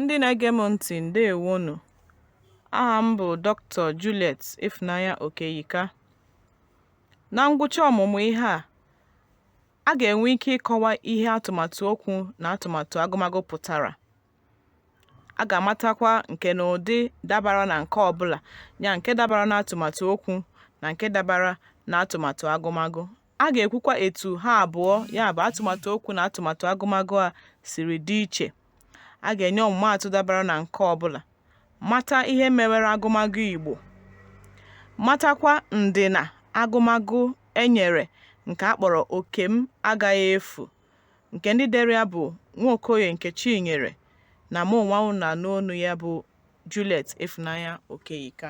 Ndị na-ege m ntị ndewonụ. Aha m bụ Dr. Juliet Ifunanya Okeyika. Na ngwụcha ọmụmụ ihe a, a ga-enwe ike ịkọwa ihe atụmatụ okwu na atụmatụ agụmagụ pụtara. A ga-amatakwa nkenụdị dabara na nke ọbụla, ya nke dabara n'atụmatụ okwu na nke dabara n'atụmatụ agụmagụ A ga-ekwukwa etu ha abụọ, ya bụ atụmatụ okwu na atụmatụ agụmagụ a siri dị iche. A ga-enye ọmụmaatụ dabara na nke ọbụla. Mata ihe mewere agụmagụ Igbo. Matakwa ndịna agụmagụ e nyere nke a kpọrọ Oke m agaghị efu nke ndị dere ya bụ Nwokoye Nkechinyere na mụnwa unu na-anụ onu ya bụ Juliet Ifunanya Okeyika.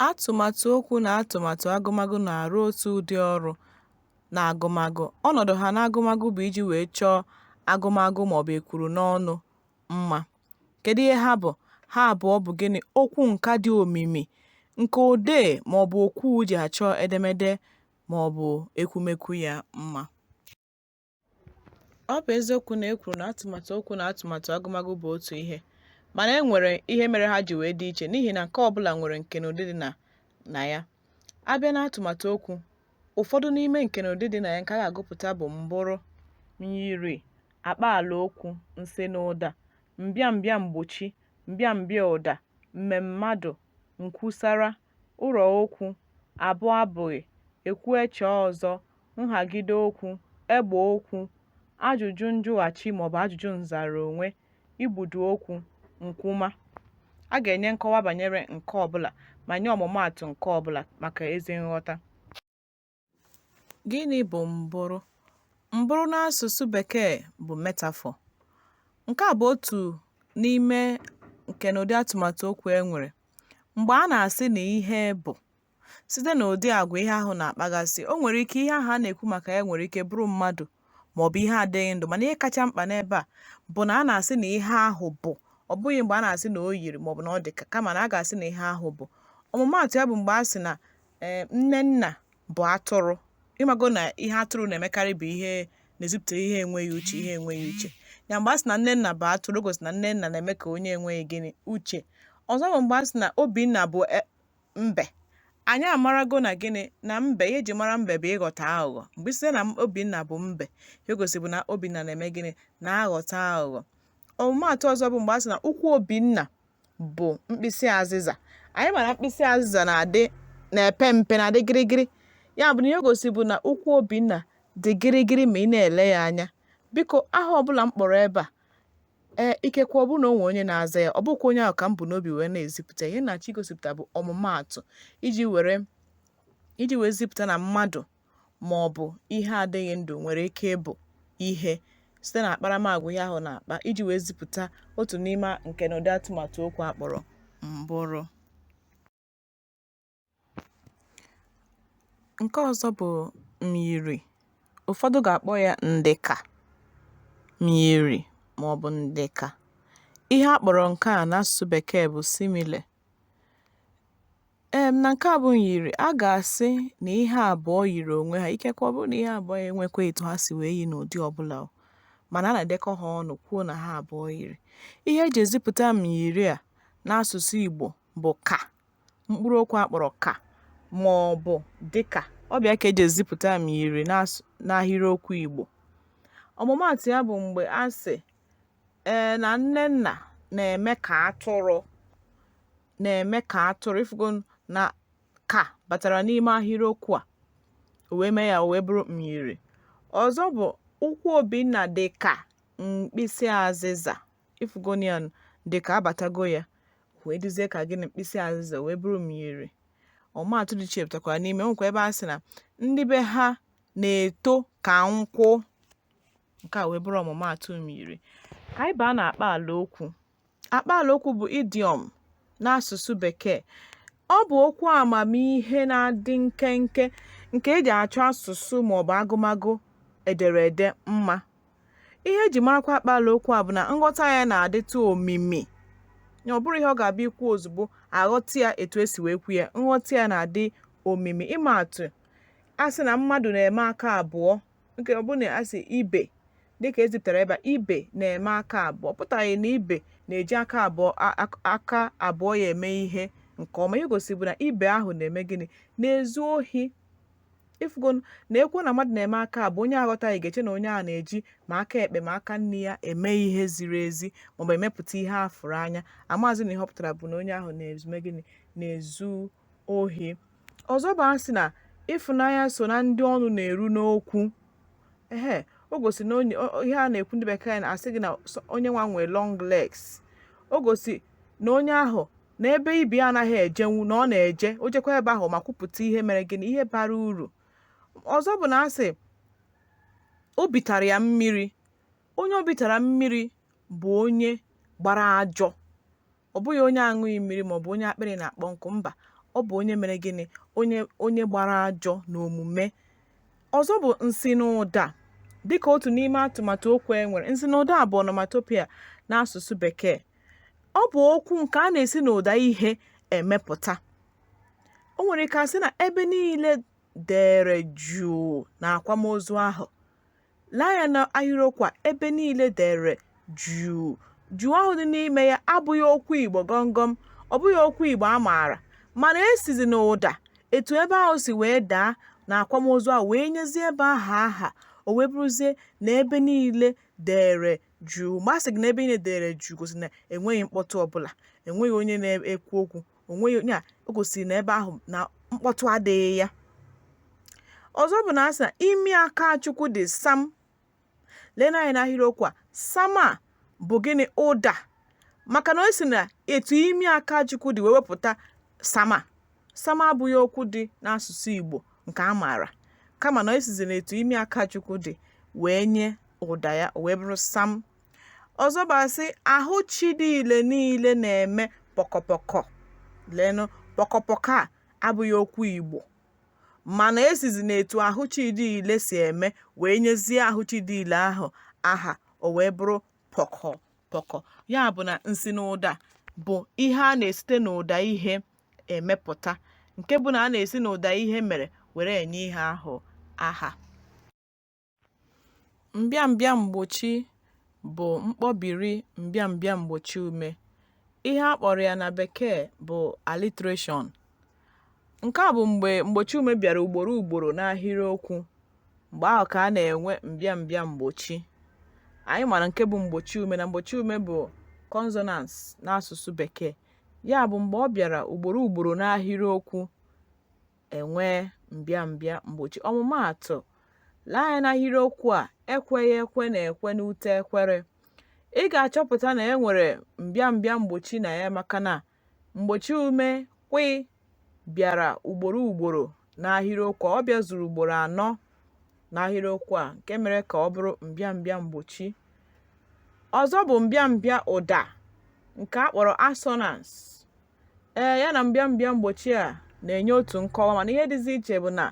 Atụmatụ okwu na atụmatụ agụmagụ na-arụ otu ụdị ọrụ n'agụmagụ. Ọnọdụ ha n'agụmagụ bụ iji wee chọọ agụmagụ maọbụ ekwurunọnụ mma. Kedụ ihe ha bụ? Ha abụọ bụ gịnị? Okwu nka dị omimi nke odee maọbụ okwuu ji achọ edemede maọbụ ekwumekwu ya mma. Ọ bụ eziokwu na e kwuru na atụmatụ okwu na atụmatụ agụmagụ bụ otu ihe, mana e nwere ihe mere ha ji wee dị iche n'ihi na nke ọ bụla nwere nkenụdị dị na ya. A bịa n'atụmatụ okwu, ụfọdụ n'ime nkenụdị dị na ya nke a ga-agụpụta bụ mbụrụ, myiri, akpaala okwu, nsinụda, mbịambịa mgbochi, mbịambịa ụda, mmemmadụ, nkwusara, ụrọ okwu, abụ abụghị, ekwu eche ọzọ, nhagide okwu, egbe okwu, ajụjụ njụghachi maọbụ ajụjụ nzara onwe, igbudu okwu, nkwuma. A ga-enye nkọwa banyere nke ọbụla ma nye ọmụmaatụ nke ọbụla maka ezi nghọta. Gịnị bụ mbụrụ? Mbụrụ n'asụsụ Bekee bụ metaphor. Nke a bụ otu n'ime nkenụdị atụmatụ okwu e nwere. Mgbe a na-asị na ihe bụ site n'ụdị agwa ihe ahụ na-akpagasị, o nwere ike ihe ahụ a na-ekwu maka ya nwere ike bụrụ mmadụ maọbụ ihe adịghị ndụ mana ihe kacha mkpa n'ebe a bụ na a na-asị na ihe ahụ bụ ọ bụghị mgbe a na-asị na o yiri maọbụ na ọ dị ka kama na a ga-asị na ihe ahụ bụ. Ọmụmaatụ ya bụ mgbe a sị na ee nnenna bụ atụrụ ị mago na ihe atụrụ na-emekarị bụ ihe na-ezipụta ihe enweghị uche ihe enweghị uche ya mgbe a sị na nnenna bụ atụrụ gosi na nnenna na-eme ka onye enweghị gịnị uche ọzọ bụ mgbe a sị na obinna bụ e, mbe anyị amarago na gịnị na mbe ihe e ji mara mbe bụ ịghọta aghụghọ mgbe a sị na obinna bụ mbe ihe gosi bụ na obinna na-eme gịnị na-aghọta aghụghọ ọmụmaatụ ọzọ bụ mgbe a sị na ụkwụ obinna bụ mkpịsị azịza anyị mara mkpịsị azịza na-adị na-epe mpe na-adị gịrịgịrị ya bụ na ihe o gosi bụ na ụkwụ Obinna dị gịrịgịrị ma ị na-ele ya anya biko aha ọbụla m kpọrọ ebe a ee eh, ikekwe ọ bụrụ na o nwere onye na-aza ya ọ bụkwa onye ahụ ka m bu n'obi wee na-ezipụta ihe na-achọ igosipụta bụ ọmụmaatụ iji were iji wee zipụta na mmadụ ma ọ bụ ihe adịghị ndụ nwere ike ịbụ ihe site na akparamagwa ihe ahụ na-akpa iji wee zipụta otu n'ime nkenụdị atụmatụ okwu a kpọrọ mbụrụ. Nke ọzọ bụ myiri. Ụfọdụ ga-akpọ ya ndịka, myiri maọbụ ndịka. Ihe a kpọrọ nke a n'asụsụ Bekee bụ simile. Ee, na nke a bụ myiri, a ga-asị na ihe abụọ yiri onwe ha, ikekwe ọ bụrụ na ihe abụọ enwekwa etu ha si wee yi n'ụdị ọbụla o, mana a na-edekọ ha ọnụ kwuo na ha abụọ yiri. Ihe e ji ezipụta myiri a n'asụsụ Igbo bụ ka, mkpụrụ okwu a kpọrọ ka ma ọ bụ dịka. Ọ bụ ya ka e ji ezipụta myiri n'ahịrịokwu Igbo. Ọmụmaatụ ya bụ mgbe a sị ee na Nnenna na-eme ka atụrụ na-eme ka atụrụ ị fụgo na ka batara n'ime ahịrịokwu a wee mee ya wee bụrụ myiri ọzọ bụ ụkwụ Obinna dị ka mkpịsị azịza ị fụgo ya dị ka abatago ya wee dịzie ka gịnị mkpịsị azịza wee bụrụ myiri ọmaatụ dị iche pụtakwara n'ime o nwekwa ebe a sị na ndị be ha na-eto ka nkwụ nke a wee bụrụ ọmụmaatụ myiri ka anyị baa na akpaala okwu akpaala okwu bụ idiom n'asụsụ bekee ọ bụ okwu amamihe na-adị nkenke nke e ji achọ asụsụ maọbụ agụmagụ ederede mma ihe e ji marakwa akpaala okwu a bụ na nghọta ya na-adịtụ omimi na ọ bụrọ ihe ọ ga-abụ i kwuo ozugbo a ghọta ya etu e si wee kwuo ya nghọta ya na-adị omimi ịma atụ a sị na mmadụ na-eme aka abụọ nke ọ bụrụ na a sị ibe dịka e zipụtara ebe a ibe na-eme aka abụọ pụtaghị na ibe na-eji aka abụọ aka abụọ ya eme ihe nke ọma ihe o gosi bụ na ibe ahụ na-eme gịnị na-ezu ohi ị fụgo na e kwuo na mmadụ na-eme aka abụọ onye aghọtaghị ga-eche na onye ahụ na-eji ma aka ekpe ma aka nni ya eme ihe ziri ezi maọbụ emepụta ihe a fụrụ anya amazị na ihe ọ pụtara bụ na onye ahụ na-eme gịnị na-ezu ohi. Ọzọ bụ a sị na Ịfụnanya so na ndị ọnụ na-eru n'okwu. Ehe, o gosi na onye ihe a na-ekwu ndị bekee na-asị gị na onye nwa nwee long legs. O gosi na onye ahụ na ebe ibe ya anaghị ejenwu na ọ na-eje o jekwa ebe ahụ ma kwupụta ihe mere gịnị ihe bara uru. Ọzọ bụ na a sị obi tara ya mmiri. Onye obi tara mmiri bụ onye gbara ajọ. Ọ bụghị onye aṅụghị mmiri maọbụ onye akpịrị na-akpọ nkụ, mba, ọ bụ onye mere gịnị? Onye gbara ajọ n'omume. Ọzọ bụ nsinụda. Dịka otu n'ime atụmatụ okwu e nwere, nsinụda bụ onomatopoeia n'asụsụ Bekee. Ọ bụ okwu nke a na-esi n'ụda ihe emepụta. O nwere ike a sị na ebe niile dere jụụ n'akwamozu ahụ. Lee anya n'ahịrịokwu a ebe niile dere juu. Juu ahụ dị n'ime ya abụghị okwu Igbo gọmgọm, ọ bụghị okwu Igbo a maara, mana e sizi n'ụda etu ebe ahụ si wee daa na akwamozu a wee nyezie ebe ahụ aha o wee bụrụzie na ebe niile dere juu. Mgbe a sị gị na ebe niile dere juu gosi na enweghị mkpọtụ ọbụla, enweghị onye na-ekwu okwu. o nweghị onye o gosiri na ebe ahụ na mkpọtụ adịghị ya ọzọ bụ na a sị na imi akachukwu dị sam lenụ anya n'ahịrịokwu a sam a bụ gịnị ụda maka na o si na etu imi akachukwu dị wee wepụta sam a sam a abụghị okwu dị n'asụsụ igbo nke a maara kama na o sizi na etu imi akachukwu dị wee nye ụda ya wee bụrụ sam ọzọ bụ a sị ahụ chidile niile na-eme pọkọpọkọ lenụ pọkọpọkọ a abụghị okwu igbo mana e sizi na etu ahụ chidile si eme wee nyezie ahụ chidile ahụ aha o wee bụrụ pọkọpọkọ ya bụ na nsinụda bụ ihe a na-esite n'ụda ihe emepụta nke bụ na a na-esi n'ụda ihe mere were enye ihe ahụ aha Mbịambịa mgbochi bụ mkpọbiri mbịambịa mgbochi ume, ihe a kpọrọ ya na Bekee bụ alliteration, nke a bụ mgbe mgbochi ume bịara ugboro ugboro n'ahịrịokwu, mgbe ahụ ka a na-enwe mbịambịa mgbochi. Anyị mara nke bụ mgbochi ume na mgbochi ume bụ consonants n'asụsụ Bekee, ya bụ mgbe ọ bịara ugboro ugboro n'ahịrịokwu. e nwee mbịambịa mgbochi. Ọmụmaatụ, lee anya n'ahịrịokwu a, ekweghị ekwe na-ekwe n'ute ekwere. Ị ga-achọpụta na e nwere mbịambịa mgbochi na ya maka na mgbochi ume kwị bịara ugboro ugboro n'ahịrịokwu a. Ọ bịazuru ugboro anọ n'ahịrịokwu a nke mere ka ọ bụrụ mbịambịa mgbochi. Ọzọ bụ mbịambịa ụda nke a kpọrọ assonance ee ya na mbịambịa mgbochi a na-enye otu nkọwa mana ihe dịzi iche bụ na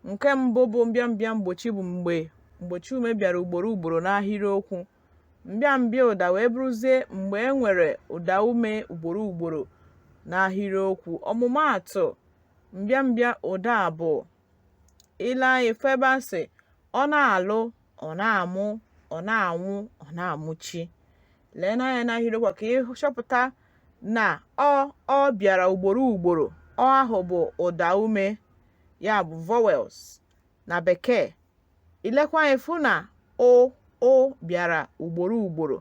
nke mbụ bụ mbịambịa mgbochi bụ mgbe mgbochi ume bịara ugboro ugboro n'ahịrịokwu mbịambịa ụda wee bụrụzie mgbe e nwere ụda ume ugboro ugboro n'ahịrịokwu ọmụmaatụ mbịambịa ụda a bụ i lee anya ị fụ ebe a sị ọ na-alụ ọ na-amụ ọ na-anwụ ọ na-amụchi lee anya n'ahịrịokwu a ka ị chọpụta na ọ ọ bịara ugboro ugboro ọ ahụ bụ ụda ume ya bụ vowels na bekee i lekwa anya fụ na ụ ụ bịara ugboro ugboro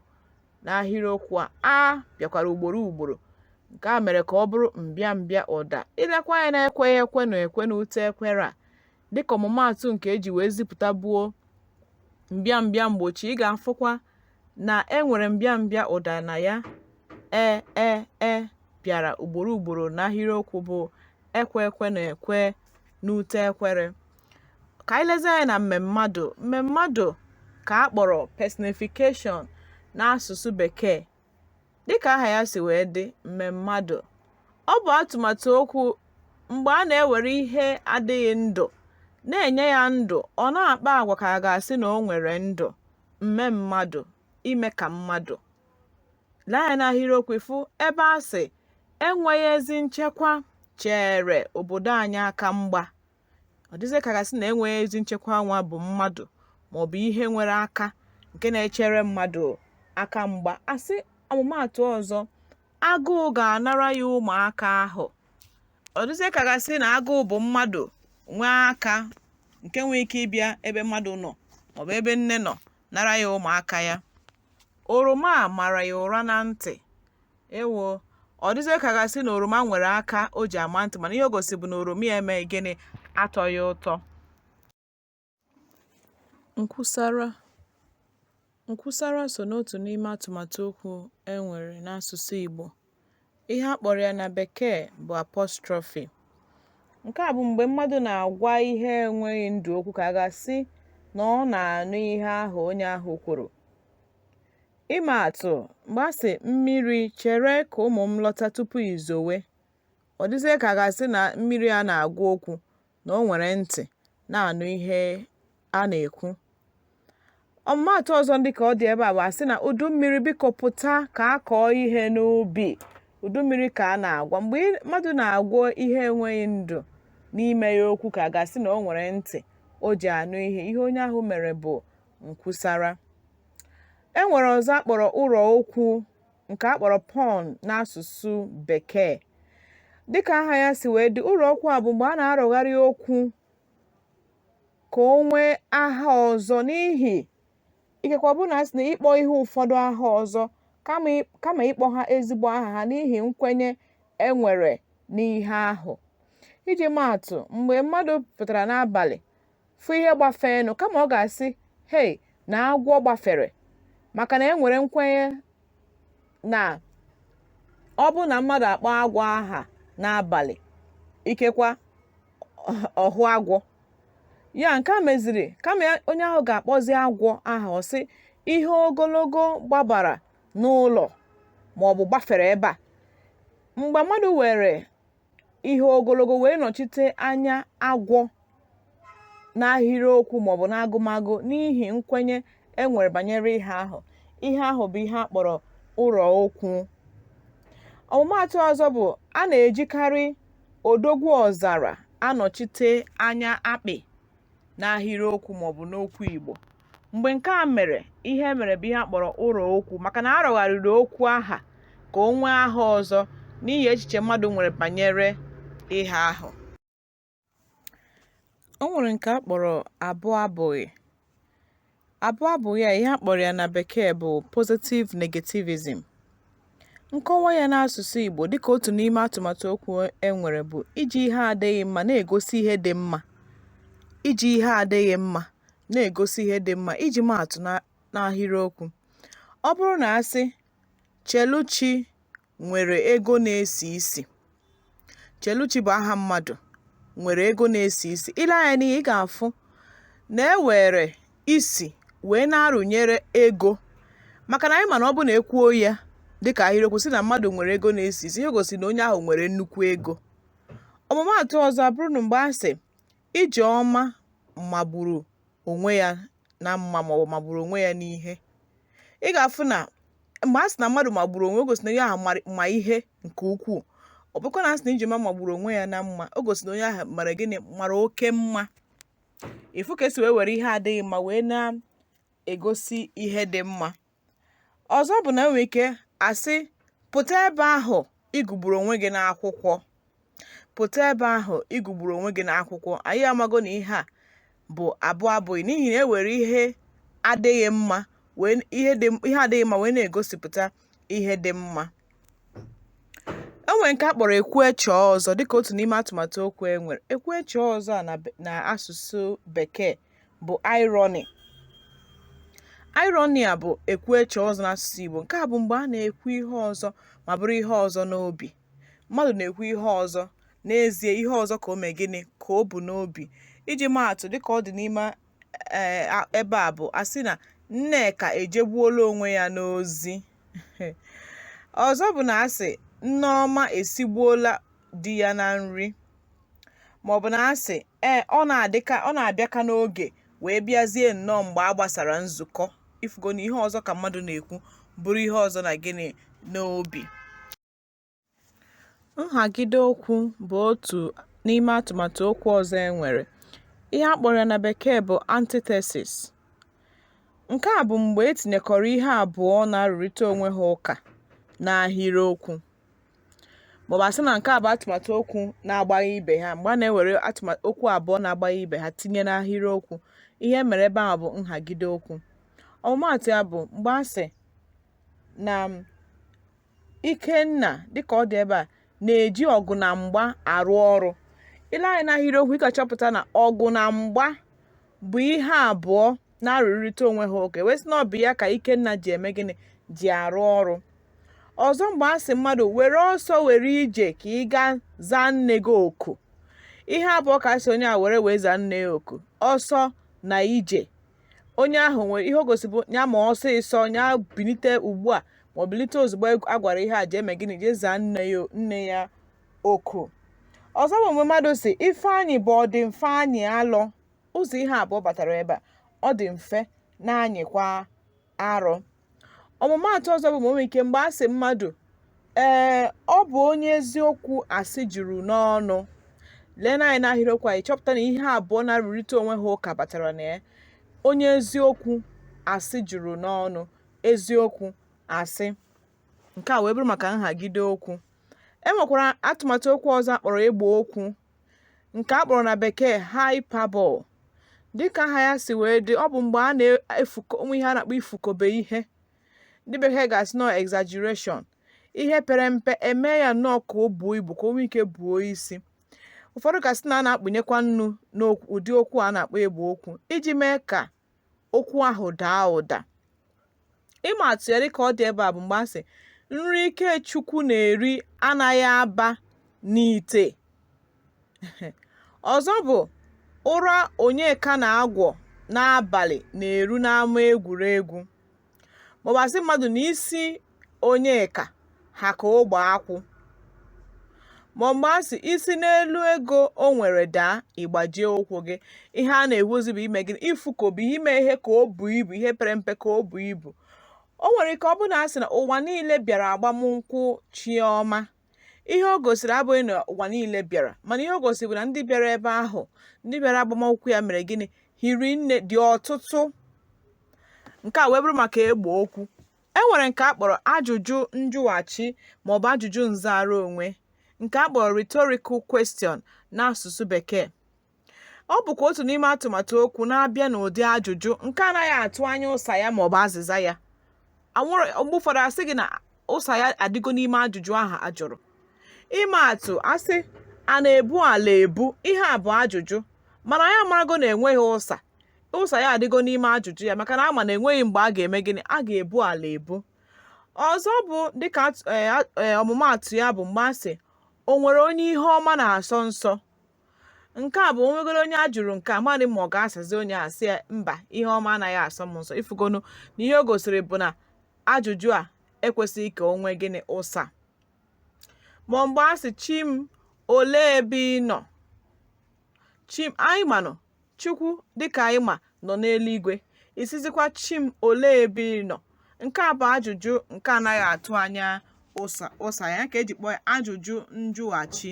n'ahịrịokwu a a bịakwara ugboro ugboro nke a mere ka ọ bụrụ mbịambịa ụda. Ị lekwa anya n'ekweghị ekwe na-ekwe n'ute ekwere a dị ka ọmụmaatụ nke e ji wee zipụta buo mbịambịa mgbochi, ị ga-afụkwa na e nwere mbịambịa ụda na ya, e e e bịara ugboro ugboro n'ahịrịokwu bụ ekwe ekwe na-ekwe n'ute ekwere. ka anyị lezie anya na mmemmadụ mmemmadụ ka a kpọrọ personification n'asụsụ bekee dịka aha ya si wee dị mmemmadụ ọ bụ atụmatụ okwu mgbe a na-ewere ihe adịghị ndụ na-enye ya ndụ ọ na-akpa agwa ka a ga-asị na o nwere ndụ mme mmadụ ime ka mmadụ lee anya n'ahịrịokwu ị fụ ebe a sị enweghị ezi nchekwa cheere obodo anyị aka mgba ọ dịzie ka a ga-asị na enweghị ezi nchekwa nwa bụ mmadụ maọbụ ihe nwere aka nke na-echere mmadụ aka mgba a sị ọmụmaatụ ọzọ agụụ ga-anara ya ụmụaka ahụ ọ dịzie ka a ga-asị na agụụ bụ mmadụ nwee aka nke nwee ike ịbịa ebe mmadụ nọ maọbụ ebe nne nọ nara ya ụmụaka ya oroma a mara ya ụra na ntị Ewo, ọ dịzie ka a ga-asị na oroma nwere aka o ji ama ntị mana ihe o gosi bụ na oroma ya emeghị gịnị atọghị ya ụtọ. Nkwusara Nkwusara so n'otu n'ime atụmatụ okwu e nwere n'asụsụ Igbo. Ihe a kpọrọ ya na Bekee bụ apostrophe. Nke a bụ mgbe mmadụ na-agwa ihe enweghị ndụ okwu ka a ga-asị na ọ na-anụ ihe ahụ onye ahụ kwuru. Ịma atụ, mgbe a sị mmiri chere ka ụmụ m lọta tupu i zowe, ọ dịzie ka a ga-asị na mmiri a na-agwa okwu na o nwere ntị na-anụ ihe a na-ekwu. Ọmụmaatụ ọzọ dị ka ọ dị ebe a bụ a sị na udu mmiri biko pụta ka a kọọ ihe n'ubi. Udu mmiri ka a na-agwa. Mgbe ị- mmadụ na-agwa ihe enweghị ndụ n'ime ya okwu ka a ga-asị na o nwere ntị o ji anụ ihe. Ihe onye ahụ mere bụ nkwusara. E nwere ọzọ a kpọrọ ụrọ okwu nke a kpọrọ pun n'asụsụ Bekee. Dị ka aha ya si wee dị, ụrọ okwu a bụ mgbe a na-arọgharị okwu ka o nwee aha ọzọ n'ihi ikekwe ọ bụrụ na a sị na ịkpọ ihe ụfọdụ aha ọzọ kama ị- kama ịkpọ ha ezigbo aha ha n'ihi nkwenye e nwere n'ihe ahụ. Iji maa atụ, mgbe mmadụ pụtara n'abalị fụ ihe gbafeenụ kama ọ ga-asị hei na agwọ gbafere maka na e nwere nkwenye na ọ bụ na mmadụ akpọ agwọ aha n'abalị ikekwa ọ hụ agwọ ya nke a meziri kama onye ahụ ga-akpọzi agwọ aha ọ sị ihe ogologo gbabara n'ụlọ maọbụ gbafere ebe a mgbe mmadụ were ihe ogologo wee nọchite anya agwọ n'ahịrịokwu maọbụ n'agụmagụ n'ihi nkwenye e nwere banyere ihe ahụ ihe ahụ bụ ihe a kpọrọ ụrọ okwu ọmụmaatụ ọzọ bụ a na-ejikarị odogwu ọzara anọchite anya akpị n'ahịrịokwu maọbụ n'okwu Igbo mgbe nke a mere ihe e mere bụ ihe a kpọrọ ụrọ okwu maka na a rọgharịrị okwu aha ka o nwee aha ọzọ n'ihi echiche mmadụ nwere banyere ihe ahụ o nwere nke a kpọrọ abụ abụghị abụ abụghị a ihe a kpọrọ ya na bekee bụ positive negativism Nkọwa ya n'asụsụ Igbo dịka otu n'ime atụmatụ okwu e nwere bụ iji ihe adịghị mma na-egosi ihe dị mma iji ihe adịghị mma na-egosi ihe dị mma iji maa atụ n'ahịrịokwu, ọ bụrụ na a sị, "Cheluchi nwere ego na-esi isi". Cheluchi bụ aha mmadụ nwere ego na-esi isi. I lee anya n'ihe, ị ga-afụ na e were isi wee na-arụnyere ego maka na anyị ma na ọ bụ na e kwuo ya dịka ahịrịokwu sị na mmadụ nwere ego na-esi isi, ihe gosi na onye ahụ nwere nnukwu ego. Ọmụmaatụ ọzọ abụrụ na mgbe a sị Ijeọma magburu onwe ya na mma maọbụ magburu onwe ya n'ihe ị ga-afụ na mgbe a sị na mmadụ magburu onwe o gosi na onye ahụ mara- ma ihe nke ukwuu ọ bụkwa na a sị na Ijeọma magburu onwe ya na mma o gosi na onye ahụ mara gịnị mara oke mma ị fụ ka e si wee were ihe adịghị mma wee na-egosi ihe dị mma ọzọ bụ na e nwere ike a sị pụta ebe ahụ ị gụgburu onwe gị n'akwụkwọ pụta ebe ahụ ị gụgburu onwe gị n'akwụkwọ anyị amago na ihe a bụ abụ abụghị n'ihi na e were ihe adịghị mma wee ihe dị ihe adịghị mma wee na-egosipụta ihe dị mma e nwere nke a kpọrọ ekwu eche ọzọ dịka otu n'ime atụmatụ okwu e nwere ekwu eche ọzọ a na be- na asụsụ bekee bụ irony irony a bụ ekwu eche ọzọ n'asụsụ Igbo nke a bụ mgbe a na-ekwu ihe ọzọ ma buru ihe ọzọ n'obi mmadụ na-ekwu ihe ọzọ n'ezie ihe ọzọ ka o mee gịnị ka o bu n'obi iji maatụ dịka ọ dị n'ime eh, ebe a bụ a sị na Nneka ejegbuola onwe ya n'ozi ọzọ bụ na a sị Nneọma esigbuola di ya na nri maọbụ na a sị ee ọ na-abịaka n'oge wee bịazie nnọọ mgbe a gbasara nzukọ ị fụgo na ihe ọzọ ka mmadụ na-ekwu buru ihe ọzọ na gịnị n'obi nhagide okwu bụ otu n'ime atụmatụ okwu ọzọ e nwere ihe a kpọrọ ya na bekee bụ antithesis nke a bụ mgbe e tinyekọrọ ihe abụọ na-arụrịta onwe ha ụka n'ahịrịokwu maọbụ a sị na nke a bụ atụmatụ okwu na-agbaghị ibe ha mgbe a na-ewere okwu abụọ na-agbaghị ibe ha tinye n'ahịrịokwu ihe e mere ebe ahụ bụ nhagide okwu ọmụmaatụ ya bụ mgbe a sị na ikenna dịka ọ dị ebe a na-eji ọgụ na mgba arụ ọrụ i lee anya n'ahịrịokwu ị ga-achọpụta na ọgụ na mgba bụ ihe abụọ na-arụrịta onwe ha ụka e wee sị na ọ bụ ya ka ikenna ji eme gịnị ji arụ ọrụ ọzọ mgbe a sị mmadụ were ọsọ were ije ka ị gaa zaa nne gị oku ihe abụọ ka a sị onye a were wee zaa nne ya oku ọsọ na ije onye ahụ nwere ihe o gosi bụ ya mee ọsịsọ ya bilite ugbu a ma ọ bilite ozugbo a gwara ihe a jee mee gịnị jee zaa nne ya oku ọzọ bụ mgbe mmadụ sị ifeanyị bụ ọ dị mfe anyị alọ ụzọ ihe abụọ batara ebe a ọ dị mfe na-anyịkwa arọ ọmụmaatụ ọzọ bụ nwere ike mgbe a sị mmadụ ee ọ bụ onye eziokwu asị juru n'ọnụ lenye anya n'ahịrịokwu anyị chọpụta na ihe abụọ na-arụrịta onwe ha ụka batara na ya onye eziokwu asị juru n'ọnụ eziokwu asị nke a wee bụrụ maka nhagide okwu e nwekwara atụmatụ okwu ọzọ a kpọrọ egbe okwu nke a kpọrọ na bekee hyperbole dịka aha ya si wee dị ọ bụ mgbe a na-efuko ihe a na-akpọ ifukobe ihe ndị bekee ga-asị na ọ exaggeration ihe pere mpe e mee ya nnọọ ka o buo ibu ka o nwee ike buo isi ụfọdụ ga-asị na a na-akpụnyekwa nnu n'ụdị okwu a na-akpọ egbe okwu iji mee ka okwu ahụ daa ụda ịma atụ ya dịka ọ dị ebe a bụ mgbe a sị nri ikechukwu na-eri anaghị aba n'ite ọzọ bụ ụra onyeka na-agwọ n'abalị na-eru n'ama egwuregwu maọbụ a sị mmadụ na isi onyeka ha ka ogbe akwụ maọbụ a sị i si n'elu ego o nwere daa ị gbajie ụkwụ gị ihe a na-ekwuzi bụ ime gịnị ịfụko bụ ime ihe ka o buo ibu ihe pere mpe ka o buo ibu o nwere ike ọ bụ na a sị na ụwa niile bịara agbamnkwụ chiọma Ihe o gosiri abụghị na ụwa niile bịara, mana ihe o gosiri bụ na ndị bịara ebe ahụ, ndị bịara agbamakwụkwọ ya mere gịnị hiri nne dị ọtụtụ. Nke a wee bụrụ maka egbe okwu. E nwere nke a kpọrọ ajụjụ njụghachi maọbụ ajụjụ nzara onwe nke a kpọrọ rhetorical question n'asụsụ Bekee. ọ bụkwa otu n'ime atụmatụ okwu na-abịa n'ụdị ajụjụ nke a naghị atụ anya ụsa ya maọbụ azịza ya mgbe ụfọdụ a sị gị na ụsa ya adịgo n'ime ajụjụ ahụ a jụrụ ịma atụ a sị a na-ebu ala ebu ihe a bụ ajụjụ mana anyị amarago na enweghị ụsa ụsa ya adịgo n'ime ajụjụ ya maka na a ma na enweghị mgbe a ga-eme gịnị a ga-ebu ala ebu ọzọ bụ dịka e, e, ọmụmaatụ ya bụ mgbe a sị o nwere onye ihe ọma na-asọ nsọ nke a bụ o nwegoro onye a jụrụ nke a mmadụ ma ọ ga-asazi onye ahụ sị mba ihe ọma anaghị asọ m nsọ ị fụgonụ na ihe o gosiri bụ na ajụjụ a ekwesịghị ka o nwee gịnị ụsa ma mgbe a sị chi m olee ebe ị nọ chi m anyị manụ chukwu dịka anyị ma nọ n'eluigwe ị sịzikwa chi m olee ebe ị nọ nke a bụ ajụjụ nke a naghị atụ anya ụsa ya ka e ji kpọọ ya ajụjụ njụghachi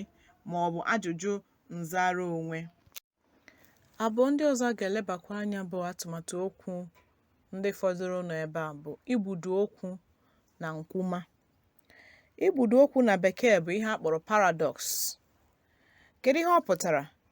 ma ọ bụ ajụjụ nzara onwe. Abụọ ndị ọzọ a ga-elebakwa anya bụ atụmatụ okwu ndị fọdụrụ nọ ebe a bụ igbudu okwu na nkwuma. Igbudu okwu na Bekee bụ ihe a kpọrọ paradox. Kedu ihe ọ pụtara?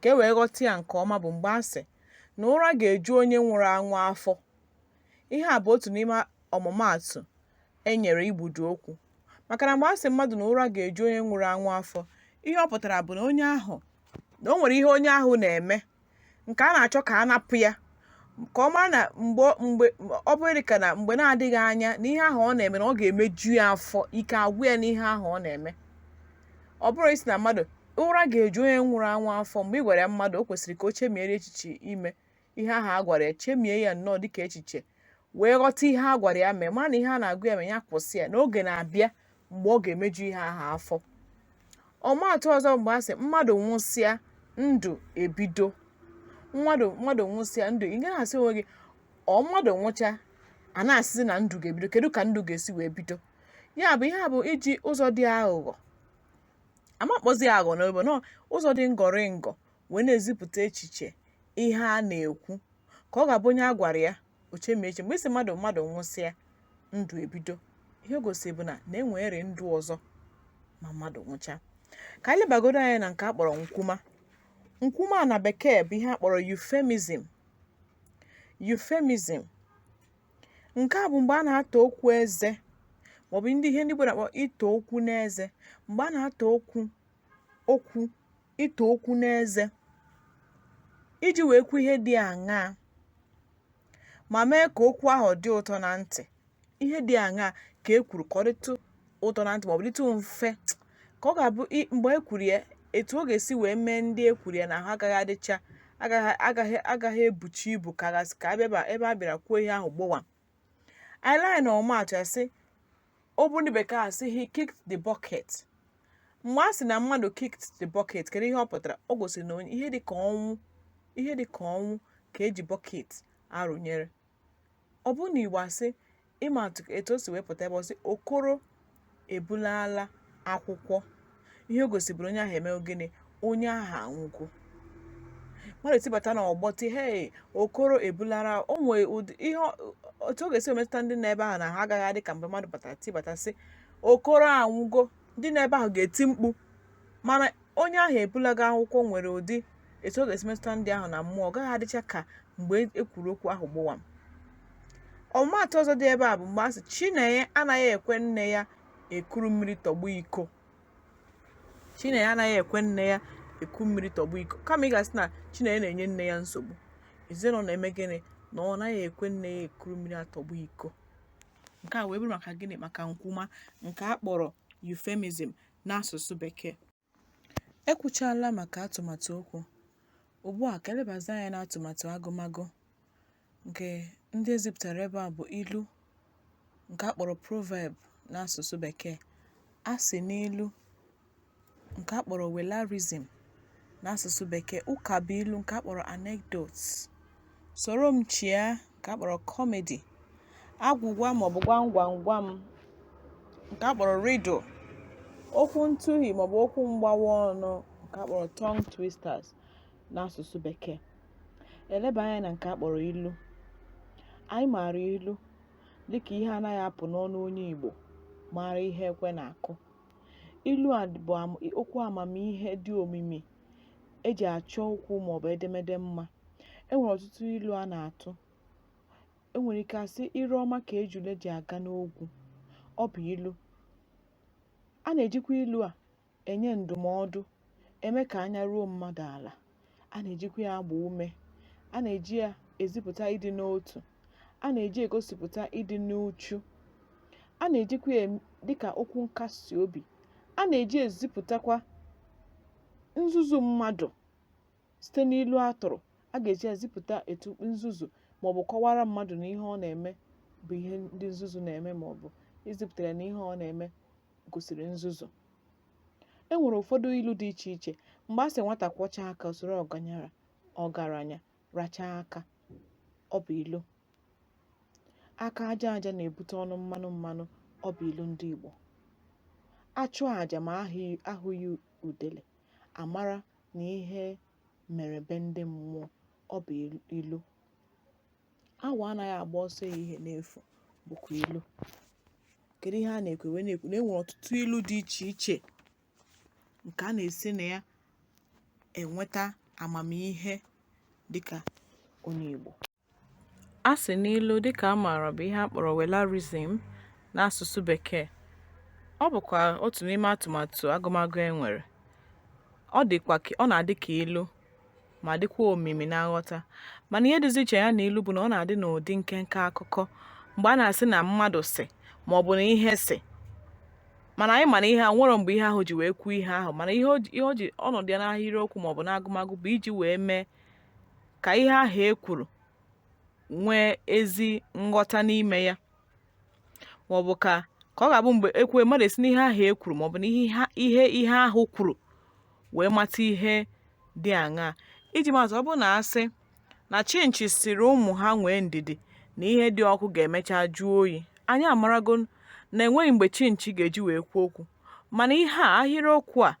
ka e wee ghọta ya nke ọma bụ mgbe a sị na ụra ga-eju onye nwụrụ anwụ afọ. Ihe a bụ otu n'ime ọmụmaatụ e nyere igbudu okwu. Maka na mgbe a sị mmadụ na ụra ga-eju onye nwụrụ anwụ afọ, ihe ọ pụtara bụ na onye ahụ na o nwere ihe onye ahụ na-eme nke a na-achọ ka a napụ ya. ka ọ mara na mgbe ọ- mgbe ọ bụrụ dị ka na mgbe na-adịghị anya na ihe ahụ ọ na-eme na ọ ga-emeju ya afọ ike agwụ ya n'ihe ahụ ọ na-eme ọ bụrụ ị sị na mmadụ ụra ga-eju onye nwụrụ anwụ afọ mgbe ị gwara mmadụ o kwesịrị ka o chemiere echiche ime ihe ahụ a gwara ya chemie ya nnọọ dịka echiche wee ghọta ihe a gwara ya mee mara na ihe a na-agụ ya mee ya kwụsị ya n'oge na-abịa mgbe ọ ga-emeju ihe ahụ afọ ọmaatụ ọzọ mgbe a sị mmadụ nwụsịa ndụ ebido mmadụ mmadụ nwụsịa ndụ ị gaghị asị onwe gị ọ mmadụ nwụcha a na-asịzi na ndụ ga-ebido kedu ka ndụ ga-esi wee bido ya bụ ihe a bụ iji ụzọ dị aghụghọ a ma kpọzi aghụghọ na ọ bụ ụzọ dị ngọrịngọ wee na-ezipụta echiche ihe a na-ekwu ka ọ ga-abụ onye a gwara ya o chema eche mgbe ị sị mmadụ mmadụ nwụsịa ndụ ebido ihe o gosiri bụ na na enwere ndụ ọzọ ma mmadụ nwụcha ka anyị lebagodo anya na nke a kpọrọ nkwuma nkwuma na bekee bụ ihe a kpọrọ euphemism euphemism nke a bụ mgbe a na-ata okwu eze maọbụ ndị ihe ndị igbo na-akpọ ịta okwu n'eze mgbe a na-ata okwu okwu ịta okwu n'eze iji wee kwuo ihe dị aṅaa ma mee ka okwu ahụ dị ụtọ na ntị ihe dị aṅaa ka e kwuru ka ọ dịtụ ụtọ na ntị maọbụ dịtụ mfe ka ọ ga-abụ i- mgbe e kwuru ya etu ọ ga-esi wee mee ndị e kwuru ya n'ahụ agaghị adịcha agaghị agaghị agaghị ebucha ibu ka gasị ka abịaba ebe a bịara kwuo ihe ahụ gbowa anyị lee na ọmaatụ ya sị ọ bụ ndị bekee a sị he kicked the bucket mgbe a sị na mmadụ kicked the bucket kedu ihe ọ pụtara o gosiri na onye ihe dị ka ọnwụ ka eji bucket arụnyere ọ bụrụ na igbo asị ịma atụ etu o si wee pụta ebe ọ sị okoro ebulaala akwụkwọ ihe o gosi bụrụ onye ahụ emewo gịnị onye ahụ anwụgo mmadụ etibata na ọgbọ ti he okoro ebulara o nwee ụdị ihe ọ- otu ọ ga-esi emetụta ndị nọ ebe ahụ n'ahụ agaghị adị ka mgbe mmadụ batara tibata sị okoro anwụgo ndị nọ ebe ahụ ga-eti mkpu mana onye ahụ ebulago akwụkwọ nwere ụdị etu ọ ga-esi metụta ndị ahụ na mmụọ ọ gaghị adịcha ka mgbe e kwuru okwu ahụ gbowam ọmụmaatụ ọzọ dị ebe a bụ mgbe a sị chinenye anaghị ekwe nne ya ekuru mmiri tọgbọ iko chinenye anaghị ekwe nne ya eku mmiri tọgbọ iko kama ị ga-asị na chinenye na-enye nne ya nsogbu ezinụlọ na-eme gịnị na ọ naghị ekwe nne ya ekuru mmiri atọgbọ iko nke a wee bụrụ maka gịnị maka nkwuma nke a kpọrọ euphemism n'asụsụ Bekee. E kwuchaala maka atụmatụ okwu. Ugbu a ka elebazie anya n'atụmatụ agụmagụ nke ndị e zipụtara ebe a bụ ilu nke a kpọrọ proverb n'asụsụ Bekee, asịnilu nke a kpọrọ Wellerism n'asụsụ Bekee, ụkabụilu nke a kpọrọ anecdotes. Soro m chịa nke a kpọrọ comedy, agwụgwa maọbụ gwam gwam gwam nke a kpọrọ riddle, okwu ntụhi maọbụ okwu mgbawa ọnụ nke a kpọrọ tongue twisters n'asụsụ bekee. Eleba anya na nke a kpọrọ ilu. Anyị maara ilu dịka ihe anaghị apụ n'ọnụ onye Igbo maara ihe ekwe na-akụ. Ilu a bụ okwu amamihe dị omimi eji achọ okwu maọbụ edemede mma e nwere ọtụtụ ilu a na-atụ e nwere ike asị ire ọma ka ejule ji aga n'ogwu ọ bụ ilu a na-ejikwa ilu a enye ndụmọdụ eme ka anya ruo mmadụ ala a na-ejikwa ya agba ume a na-eji ya ezipụta ịdị n'otu a na-eji egosipụta ịdị n'uchu a na-ejikwa ya em- dịka okwu nkasi obi a na-eji ezipụtakwa nzuzu mmadụ site n'ilu a tụrụ a ga-eji ezipụta etu nzuzu maọbụ kọwara mmadụ na ihe ọ na-eme bụ ihe ndị nzuzu na-eme maọbụ izipụtara na ihe ọ na-eme gosiri nzuzu e nwere ụfọdụ ilu dị iche iche mgbe a sị nwata kwọchaa aka o soro ọgaranya rachaa aka ọ bụ ilu aka aja aja na-ebute ọnụ mmanụ mmanụ ọ bụ ilu ndị Igbo achụ aja ma ahụghị udele amara na ihe mere be ndị mmụọ ọ bụ ilu awọ anaghị agba ọsọ ehihie n'efu bụkwa ilu kedu ihe a na-ekwu wee na-ekwu na enwere ọtụtụ ilu dị iche iche nke a na-esi na ya enweta amamihe dịka onye Igbo asinilu dịka a maara bụ ihe a kpọrọ wellerism n'asụsụ bekee ọ bụkwa otu n'ime atụmatụ agụmagụ e nwere ọ na-adị ka ilu ma dịkwa omimi na nghọta mana ihe dịzi iche ya na ilu bụ na ọ na-adị n'ụdị nkenke akụkọ mgbe a na-asị na mmadụ sị ma ọ bụ na ihe sị mana anyị ma na enweghị mgbe ihe ahụ ji wee kwuo ihe ahụ mana ihe o ji ọnọdụ ya n'ahịrịokwu ma ọ bụ n'agụmagụ bụ iji wee mee ka ihe ahụ e kwuru nwee ezi nghọta n'ime ya ma ọ bụ ka ka ọ ga-abụ mgbe ekwuwe mmadụ esi n'ihe ahụ e kwuru ma ọ bụ n'ihe ihe ihe ahụ kwuru wee mata ihe dị aṅaa iji maatụ ọ bụrụ na asị na chinchi sịrị ụmụ ha nwee ndidi na ihe dị ọkụ ga-emecha jụọ oyi anyị amarago na enweghị mgbe chinchi ga-eji wee kwuo okwu mana ihe a ahịrịokwu a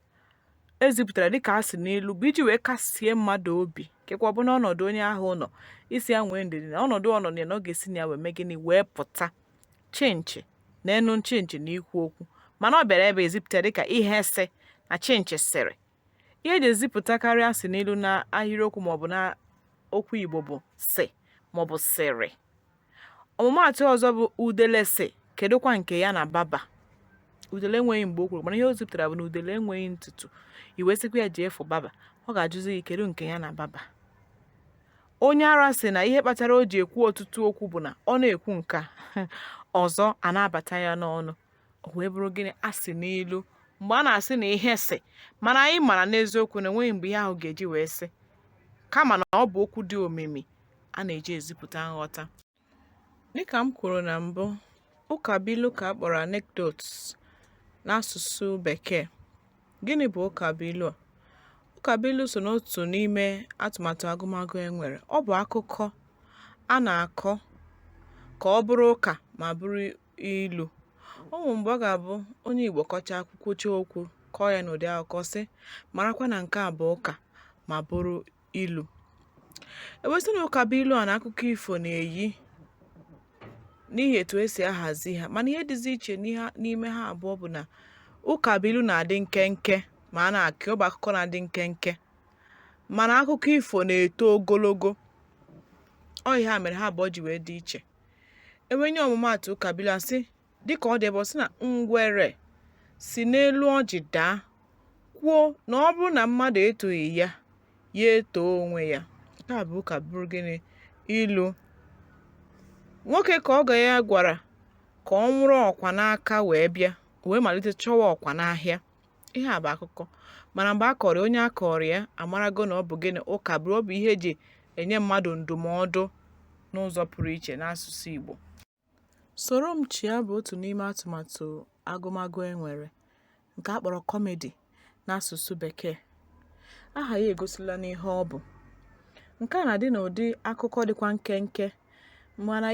ezipụtara dịka asinilu bụ iji wee kasie mmadụ obi ikekwe ọ bụ n'ọnọdụ onye ahụ nọ ịsị ya nwee ndidi na ọnọdụ ọ nọ na ya na ọ ga-esi na ya wee mee gịnị wee pụta chinchi na enu chinchi anaghị ekwu okwu mana ọ bịara ebe a zipụta dịka ihe a sị na chinchi sịrị ihe eji ezipụtakarị asinilu na ahịrịokwu maọbụ na okwu Igbo bụ sị maọbụ sịrị ọmụmaatụ ọzọ bụ udele sị kedụkwa nke ya na baba udele enweghị mgbe o kwuru mana ihe o zipụtara bụ na udele enweghị ntutu i wee sịkwa ya jee fụ baba ọ ga-ajụzi gị kedu nke ya na baba onye ara sị na ihe kpatara o ji ekwu ọtụtụ okwu bụ na ọ na-ekwu nke a ọzọ a na-abata ya n'ọnụ o wee bụrụ gịnị a sị n'ilu mgbe a na-asị na ihe sị mana anyị mara n'eziokwu na enweghị mgbe ihe ahụ ga-eji wee sị kama na ọ bụ okwu dị omimi a na-eji ezipụta nghọta dịka m kwuru na mbụ ụkabilu ka a kpọrọ anecdotes n'asụsụ bekee gịnị bụ ụkabilu a ụkabilu so n'otu n'ime atụmatụ agụmagụ e nwere ọ bụ akụkọ a na-akọ ka ọ bụrụ ụka ma bụrụ ilu o nwere mgbe ọ ga-abụ onye Igbo kọchaa kwuchaa okwu kọọ ya n'ụdị akụkọ sị marakwa na nke a bụ ụka ma bụrụ ilu e wee sị na ụka bụ ilu a na akụkọ ifo na-eyi n'ihi etu esi ahazi ha mana ihe dịzi iche n'ime ha abụọ bụ na ụka bụ ilu na-adị nkenke ma a na-akọ ya ọ bụ akụkọ na-adị nkenke mana akụkọ ifo na-eto ogologo ọ ihe a mere ha abụọ ji wee dị iche e wee nye ọmụmaatụ ụkabilu a sị dịka ọ dị ebe ọ sị na ngwere si n'elu ọjị daa kwuo na ọ bụrụ na mmadụ etoghị ya ya etoo onwe ya nke a bụ ụka bụrụ gịnị ilu nwoke ka ọgọ ya gwara ka ọ nwụrụ ọkwa n'aka wee bịa wee malite chọwa ọkwa n'ahịa ihe a bụ akụkọ mana mgbe a kọrọ ya onye a kọọrọ ya amarago na ọ bụ gịnị ụkabilu ọ bụ ihe eji enye mmadụ ndụmọdụ n'ụzọ pụrụ iche n'asụsụ Igbo soro m chịa bụ otu n'ime atụmatụ agụmagụ e nwere nke a kpọrọ comedy n'asụsụ bekee aha ya egosila n'ihe ọ bụ nke a na-adị n'ụdị akụkọ dịkwa nkenke mana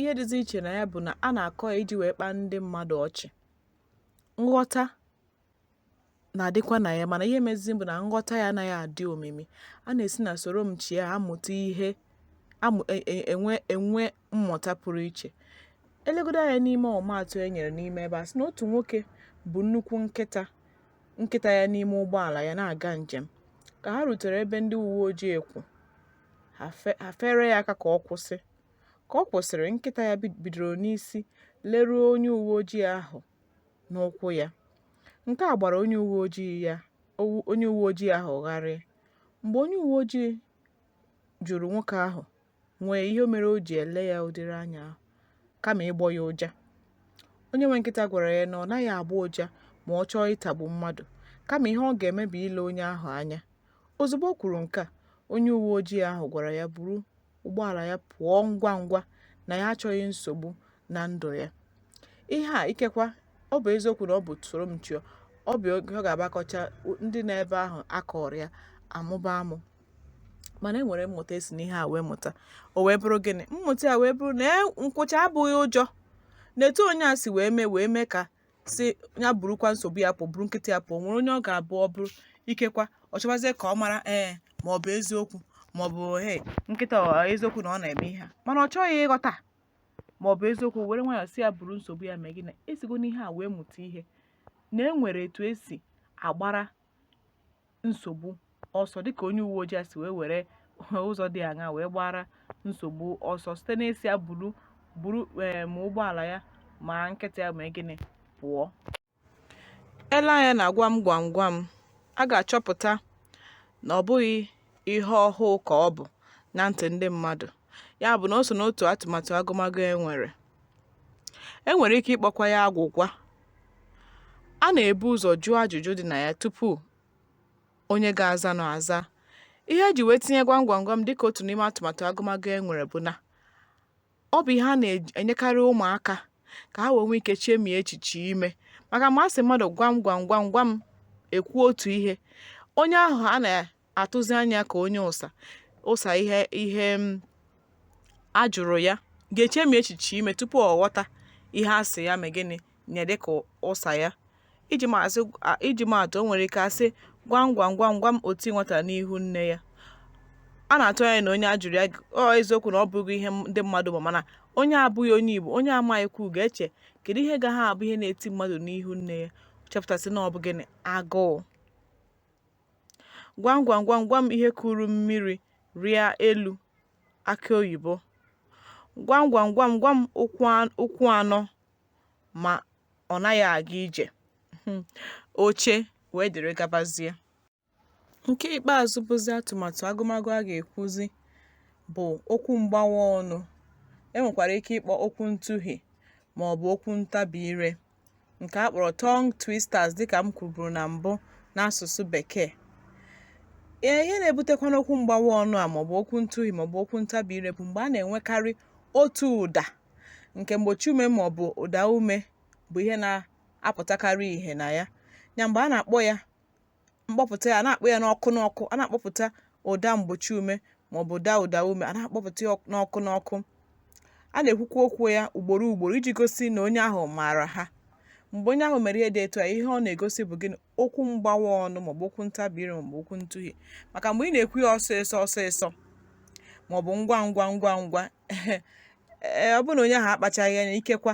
ihe dịzi iche na ya bụ na a na-akọ ya iji wee kpaa ndị mmadụ ọchị nghọta na-adịkwa na ya mana ihe mezi bụ na nghọta ya anaghị adị omimi a na-esi na soro m chịa amụta ihe e, e, enwe enwe mmụta pụrụ iche elegodo anya n'ime ọmụmaatụ e nyere n'ime ebe a sị na otu nwoke bu nnukwu nkịta ya n'ime ụgbọala ya na-aga njem ka ha rutere ebe ndị uwe ojii kwụ ha fere ya aka ka ọ kwụsị ka ọ kwụsịrị nkịta ya bidoro n'isi leruo onye uwe ojii ahụ n'ụkwụ ya nke a gbara onye uwe ojii ahụ gharịị mgbe onye uwe ojii jụrụ nwoke ahụ nwe ya ihe o mere o ji ele ya ụdịrị anya ahụ kama ịgbọ ya ụja onye nwe nkịta gwara ya na ọ naghị agbọ ụja ma ọ chọọ ịtagbu mmadụ kama ihe ọ ga-eme bụ ile onye ahụ anya ozugbo o kwuru nke a onye uwe ojii ahụ gwara ya buru ụgbọala ya pụọ ngwa ngwa na ya achọghị nsogbu na ndụ ya. Ihe a ikekwa ọ bụ eziokwu na ọ bụ soro m chịa, ọ bụ oge ọ ga-abụ a kọchaa ndị nọ ebe ahụ a kọọrọ ya amụba amụ. Mana e nwere mmụta esi n'ihe a wee mụta. O wee bụrụ gịnị? Mmụta a wee bụrụ na nkwụcha abụghị ụjọ. Na etu onye a si wee mee wee mee ka si ya burukwa nsogbu ya pụọ buru nkịta ya pụọ nwere onye ọ ga-abụ ọ bụrụ ikekwa ọ chọbazie ka ọ mara ee ma ọ bụ eziokwu ma ọ bụ ee nkịta eziokwu na ọ na-eme ihe a mana ọ chọghị ịghọta ma ọ bụ eziokwu were nwayọọ si ya buru nsogbu ya mee gị na esigo n'ihe a wee mụta ihe na e nwere etu esi agbara nsogbu ọsọ dịka onye uwe ojii si wee were ụzọ dị aṅaa wee gbara nsogbu ọsọ site n'ịsị ya buru buru eh, ma ụgbọala ya ma nkịta ya mee gịnị pụọ elee anya na gwam gwam gwam a ga-achọpụta na ọ bụghị ihe ọhụụ ka ọ bụ na ntị ndị mmadụ ya bụ na o so n'otu atụmatụ agụmagụ e nwere E nwere ike ịkpọkwa ya agwụgwa. A na-ebu ụzọ jụọ ajụjụ dị na ya tupu onye ga-azanụ aza. Ihe e ji wee tinye gwam gwam gwam dịka otu n'ime atụmatụ agụmagụ e nwere bụ na ọ bụ ihe a na-enyekarị ụmụaka ka ha wee nwee ike chemie echiche ime maka ma a sị mmadụ gwam gwam gwam gwam ekwuo otu ihe onye ahụ a na atụzi anya ka onye ụsa ụsa ihe ihe a jụrụ ya ga-echemi echiche ime tupu ọ ghọta ihe a sị ya mee gịnị nye dịka ụsa ya iji maazị iji maatụ o nwere ike asị gwam gwam gwam gwam oti nwata n'ihu nne ya a na-atụ anya na onye a jụrụ ya ọ eziokwu na ọ bụghị ihe ndị mmadụ ma mana onye abụghị onye Igbo onye amaghịkwu ga-eche kedu ihe ga-abụ ihe na-eti mmadụ n'ihu nne ya chepụtasị na ọ bụ gịnị agụụ Gwam gwam gwam gwam ihe kuru mmiri rịa elu akị oyibo. Gwam gwam gwam gwam ụkwụ anọ ma ọ naghị aga ije. Hmm. Oche wee dịrị gabazie. Nke ikpeazụ bụzi atụmatụ agụmagụ a ga-ekwuzi bụ okwu mgbawa ọnụ. E nwekwara ike ịkpọ okwu ntụhi maọbụ okwu ntabi ire. nke a kpọrọ tongue twisters dịka m kwuburu na mbụ n'asụsụ bekee ee ihe na-ebutekwanụ okwu mgbawa ọnụ a maọbụ okwu ntụhi maọbụ okwu ntabi ire bụ mgbe a na-enwekarị otu ụda nke mgbochiume maọbụ ụdaume bụ ihe na-apụtakarị ihe na ya ya mgbe a na-akpọ ya mkpọpụta ya a na-akpọ ya n'ọkụ n'ọkụ a na-akpọpụta ụda mgbochiume maọbụ ụda ụdaume a na-akpọpụta ya n'ọkụ n'ọkụ a na-ekwukwa okwu ya ugboro ugboro iji gosi na onye ahụ maara ya mgbe onye ahụ mere ihe dị etu a ihe ọ na-egosi bụ gịnị okwu mgbawa ọnụ maọbụ okwu ntabi ire maọbụ okwu ntụhi maka mgbe ị na-ekwu ya ọsịsọ ọsịsọ maọbụ ngwa ngwa ngwa ngwa ee ọ bụrụ na onye ahụ akpachaghị anya ikekwa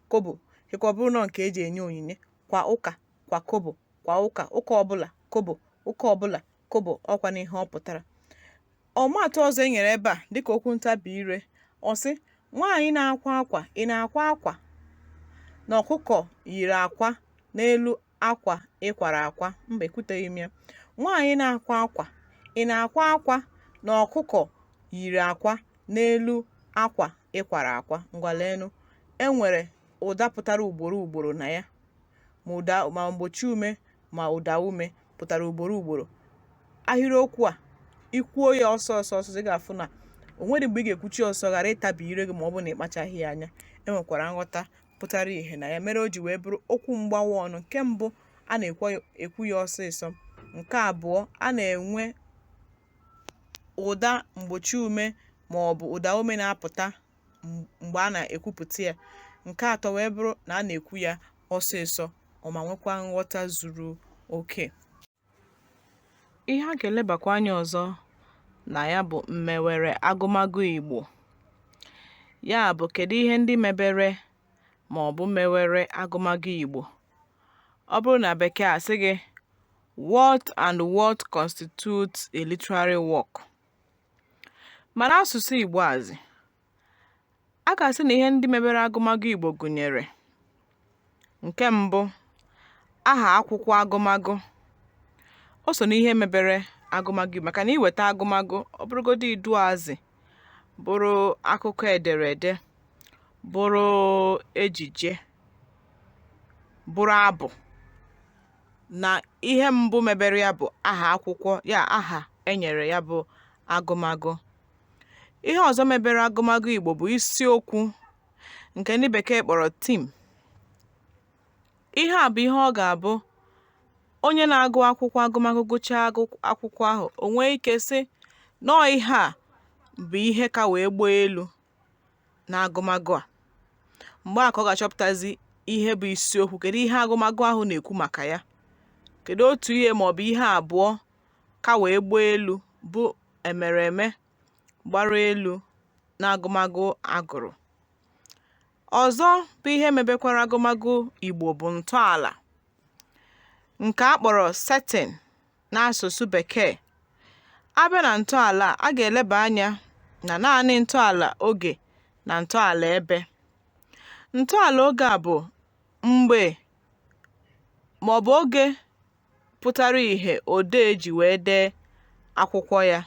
kobo dịka ọ bụrụ na nke e ji enye onyinye kwa ụka kwa kobo kwa ụka ụka ọbụla kobo ụka ọbụla kobo ọ kwanụ ihe ọ pụtara ọmaatụ ọzọ e nyere ebe a dịka okwu ntabi ire ọ sị nwaanyị na-akwa akwa ị na-akwa akwa na ọkụkọ yiri akwa n'elu akwa ị kwara akwa mba ekwuteghị m ya nwaanyị na-akwa akwa ị na-akwa akwa na ọkụkọ yiri akwa n'elu akwa ị kwara akwa ngwa leenụ e nwere ụda pụtara ugboro ugboro na ya ma mgbochi ume ma ụda ume pụtara ugboro ugboro ahịrịokwu a i kwuo ya ọsọ ọsọ ọsọ ị ga-afụ na o nweghị mgbe ị ga-ekwucha ya ọsọ ghara ịtabi ire gị ma ọ bụ na ị kpachaghị ya anya e nwekwara nghọta pụtara ihe na ya mere o ji wee bụrụ okwu mgbawa ọnụ nke mbụ a na-ekwu ya ọsịsọ nke abụọ a na-enwe ụda mgbochi ume ma ọ bụ ụda ume na-apụta mgbe a na-ekwupụta ya nke atọ wee bụrụ na a na-ekwu ya ọsịsọ ma nwekwa nghọta zuru oke ihe a ga-elebakwa anya ọzọ na ya bụ mmewere agụmagụ Igbo ya bụ kedu ihe ndị mebere ma ọ bụ mewere agụmagụ Igbo ọ bụrụ na bekee a sị gị what and what constitutes a literary work ma n'asụsụ Igbo azị A ga-asị na ihe ndị mebere agụmagụ Igbo gụnyere nke mbụ aha akwụkwọ agụmagụ o so n'ihe mebere agụmagụ Igbo maka na i weta agụmagụ ọ bụrụgodị iduuazị bụrụ akụkọ ederede bụrụ ejije bụrụ abụ na ihe mbụ mebere ya bụ aha akwụkwọ ya aha e nyere ya bụ agụmagụ Ihe ọzọ mebere agụmagụ Igbo bụ isiokwu nke ndị bekee kpọrọ theme. Ihe a bụ ihe ọ ga-abụ onye na-agụ akwụkwọ agụmagụ gụchaa akwụkwọ ahụ o nwee ike sị nọọ ihe a bụ ihe ka wee gbaa elu n'agụmagụ a. Mgbe a ka ọ ga-achọpụtazi ihe bụ isiokwu, kedu ihe agụmagụ ahụ na-ekwu maka ya, kedu otu ihe maọbụ ihe abụọ ka wee gbaa elu bụ emereme gbara elu n'agụmagụ a gụrụ. Ọzọ bụ ihe mebekwara agụmagụ Igbo bụ ntọala nke a kpọrọ setting n'asụsụ Bekee. A bịa na ntọala a, a ga-eleba anya na naanị ntọala oge na ntọala ebe. Ntọala oge a bụ mgbe maọbụ oge pụtara ihe odee ji wee dee akwụkwọ ya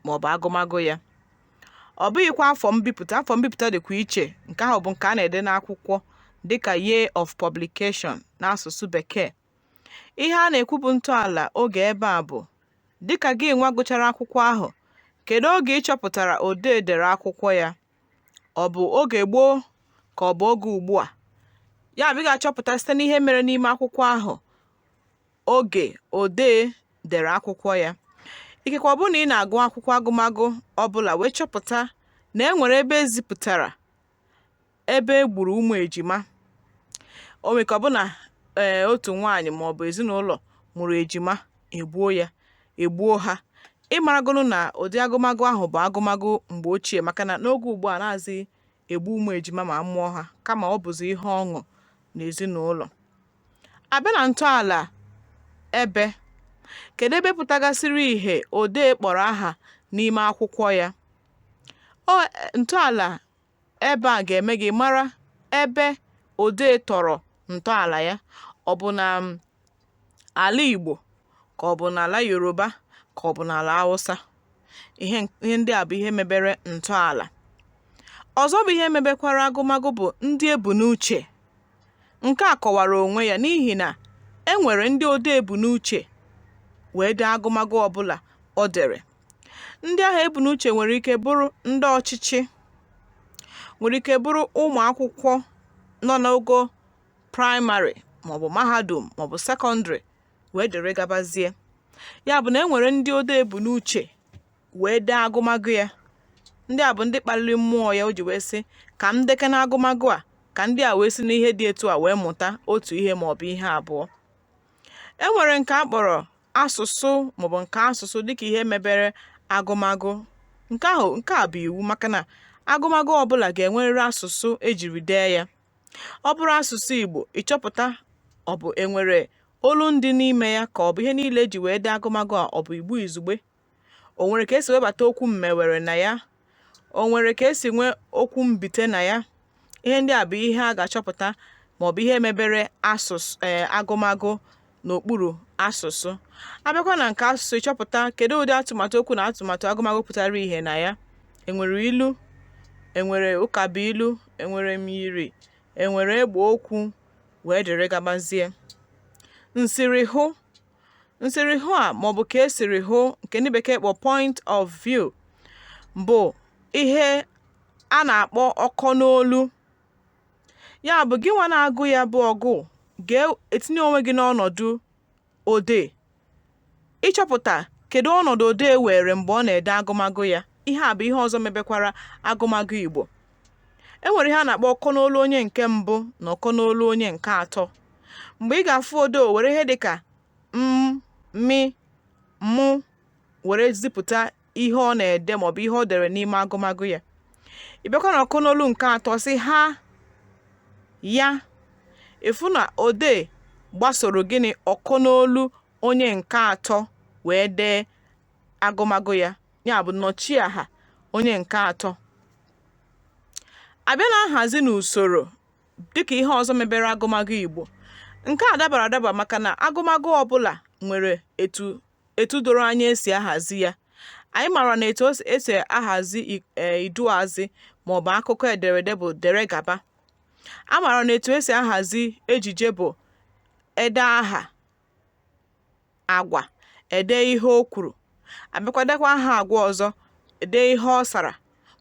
maọbụ agụmagụ ya ọ bụghịkwa afọ mbipụta afọ mbipụta dịkwa iche nke ahụ bụ nke a na-ede n'akwụkwọ dịka year of publication n'asụsụ bekee ihe a na-ekwu bụ ntọala oge ebe a bụ dịka gị nwa gụchara akwụkwọ ahụ kedu oge ị chọpụtara odee dere akwụkwọ ya ọ bụ oge gboo ka ọ bụ oge ugbu a ya bụ ị ga-achọpụta site n'ihe mere n'ime akwụkwọ ahụ oge odee dere akwụkwọ ya ikekwe ọ bụrụ na ị na-agụ akwụkwọ agụmagụ ọbụla wee chọpụta na e nwere ebe e zipụtara ebe e gburu ụmụ ejima o nwere ka ọ bụ na ee eh, otu nwaanyị maọbụ ezinụlọ mụrụ ejima egbuo ya egbuo ha ị maragonụ na ụdị agụmagụ ahụ bụ agụmagụ mgbe ochie maka na n'oge ugbu a anazị egbu ụmụ ejima ma a mụọ ha kama ọ bụzi ihe ọṅụ n'ezinụlọ a bịa na ntọala ebe kedu ebe pụtagasịrị ihe odee kpọrọ aha n'ime akwụkwọ ya ntọala Ebe a ga-eme gị mara ebe odee tọrọ ntọala ya. Ọ bụ na um, ala Igbo ka ọ bụ n'ala Yoruba ka ọ bụ n'ala Awụsa. Ihe ndị a bụ ihe mebere ntọala. Ọzọ bụ ihe mebekwara agụmagụ bụ ndị e bu n'uche. Nke a kọwara onwe ya n'ihi na e nwere ndị odee bu n'uche wee dee agụmagụ ọbụla o dere. ndị ahụ e bu n'uche nwere ike bụrụ ndị ọchịchị nwere ike bụrụ ụmụ akwụkwọ nọ n'ogo praịmarị maọbụ mahadum maọbụ sekọndịrị wee dịrị gabazie ya bụ na e nwere ndị odee bu n'uche wee dee agụmagụ ya ndị a bụ ndị kpaliri mmụọ ya o ji wee sị ka m dekene agụmagụ a ka ndị a wee si n'ihe dị etu a wee mụta otu ihe maọbụ ihe abụọ e nwere nke a kpọrọ asụsụ maọbụ nka asụsụ dịka ihe mebere agụmagụ nke ahụ nke a bụ iwu maka na agụmagụ ọbụla ga-enwerịrị asụsụ e jiri dee ya ọ bụrụ asụsụ Igbo ị chọpụta ọ bụ e nwere olundị n'ime ya ka ọ bụ ihe niile e ji wee dee agụmagụ a ọ bụ Igbo izugbe o nwere ka e si webata okwu mmewere na ya o nwere ka e si nwee okwu mbite na ya ihe ndị a bụ ihe a ga-achọpụta maọbụ ihe mebere asụsụ ee eh, agụmagụ n'okpuru asụsụ a bịakwa na nka asụsụ ị chọpụta kedu ụdị atụmatụ okwu na atụmatụ agụmagụ pụtara ihe na ya e nwere ilu e nwere ụkabụilu e nwere myiri e nwere egbe okwu wee dịrị gabazie nsirihụ Nsirihụ a maọbụ ka e siri hụ nke ndị bekee kpọ point of view bụ ihe a na-akpọ ọkọ n'olu. Ya bụ gị nwa na-agụ ya bụ ọgụ ga-etinye onwe gị n'ọnọdụ odee ịchọpụta kedu ọnọdụ odee weere mgbe ọ na-ede agụmagụ ya. Ihe a bụ ihe ọzọ mebekwara agụmagụ Igbo. e nwere ihe a na-akpọ ọkọ n'olu onye nke mbụ na ọkọ n'olu onye nke atọ mgbe ị ga-afụ odee were ihe dịka m mụ were zipụta ihe ọ na-ede maọbụ ihe o dere n'ime agụmagụ ya ị bịakwa na ọkọ n'olu nke atọ sị ha ya ị fụ na odee gbasoro gịnị ọkọ n'olu onye nke atọ wee dee agụmagụ ya ya bụ nnọchiaha onye nke atọ a bịa na nhazi na usoro dịka ihe ọzọ mebere agụmagụ Igbo nke a dabara adaba maka na agụmagụ ọbụla nwere etu etu doro anya e si ahazi ya anyị maara na etu e si e ahazi e, iduuazị maọbụ akụkọ ederede bụ dere gaba a maara na etu e si ahazi ejije bụ e dee aha agwa e dee ihe o kwuru a bịakwa dekwa aha agwa ọzọ e dee ihe ọ sara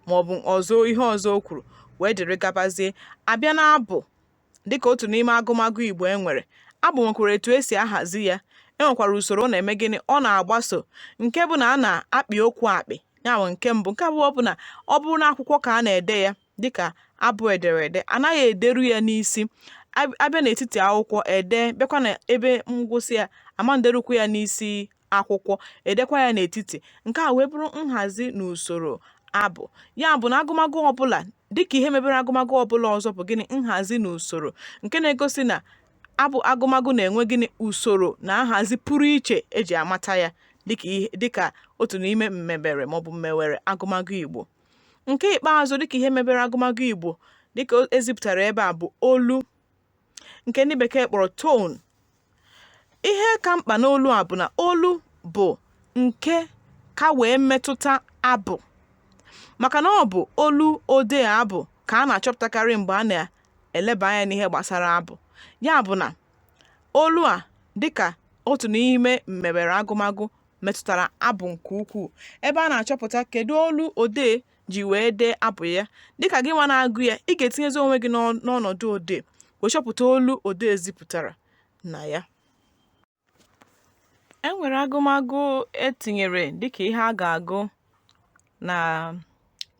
maọbụ ọzọ ihe ọzọ o kwuru wee dịrị gabazie a bịa na abụ dịka otu n'ime agụmagụ Igbo e nwere abụ nwekwara etu e si ahazi ya e nwekwara usoro ọ na-eme gịnị ọ na-agbaso nke bụ na a na-akpị okwu akpị ya bụ nke mbụ nke abụọ bụ na ọ bụrụ na akwụkwọ ka a na-ede ya dịka abụ ederede a naghị ederu ya n'isi a bịa n'etiti akwụkwọ e dee bịakwa na ebe ngwụsị ya ama nderukwa ya n'isi akwụkwọ e dekwa ya n'etiti nke a wee bụrụ nhazi na usoro abụ ya bụ na agụmagụ ọbụla dịka ihe mebere agụmagụ ọbụla ọzọ bụ gịnị nhazi na usoro nke na-egosi na abụ agụmagụ na-enwe gịnị usoro na nhazi pụrụ iche e ji amata ya dịka otu n'ime mmebere maọbụ mmewere agụmagụ Igbo Nke ikpeazụ dịka ihe mebere agụmagụ Igbo dịka e zipụtara ebe a bụ olu nke ndị bekee kpọrọ tone. Ihe ka mkpa n'olu a bụ na olu bụ nke ka wee metụta abụ maka na ọ bụ olu odee abụ ka a na-achọpụtakarị mgbe a na-eleba anya n'ihe gbasara abụ. Ya bụ na olu a dịka otu n'ime mmebere agụmagụ metụtara abụ nke ukwuu ebe a na-achọpụta kedu olu odee ji wee dee abụ ya dịka gị nwa na-agụ ya ị ga-etinyezi onwe gị n'ọnọdụ odee wee chọpụta olu odee zipụtara na ya e nwere agụmagụ e tinyere dịka ihe a ga-agụ na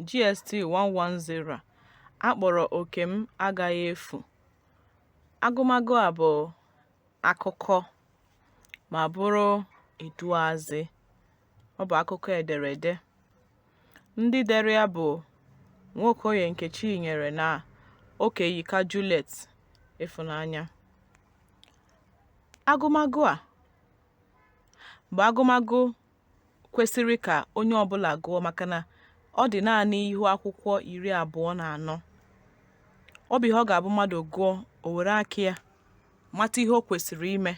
GST 110 a kpọrọ oke m agaghị efu agụmagụ a bụ akụkọ ma bụrụ iduuazị ọ bụ akụkọ ederede ndị dere ya bụ Nwokoye Nkechinyere na Okeyika Juliet Ifunanya agụmagụ a bụ agụmagụ kwesịrị ka onye ọbụla gụọ maka na ọ dị naanị ihu akwụkwọ iri abụọ na anọ ọ bụ ihe ọ ga-abụ mmadụ gụọ o were aka ya mata ihe o kwesịrị ime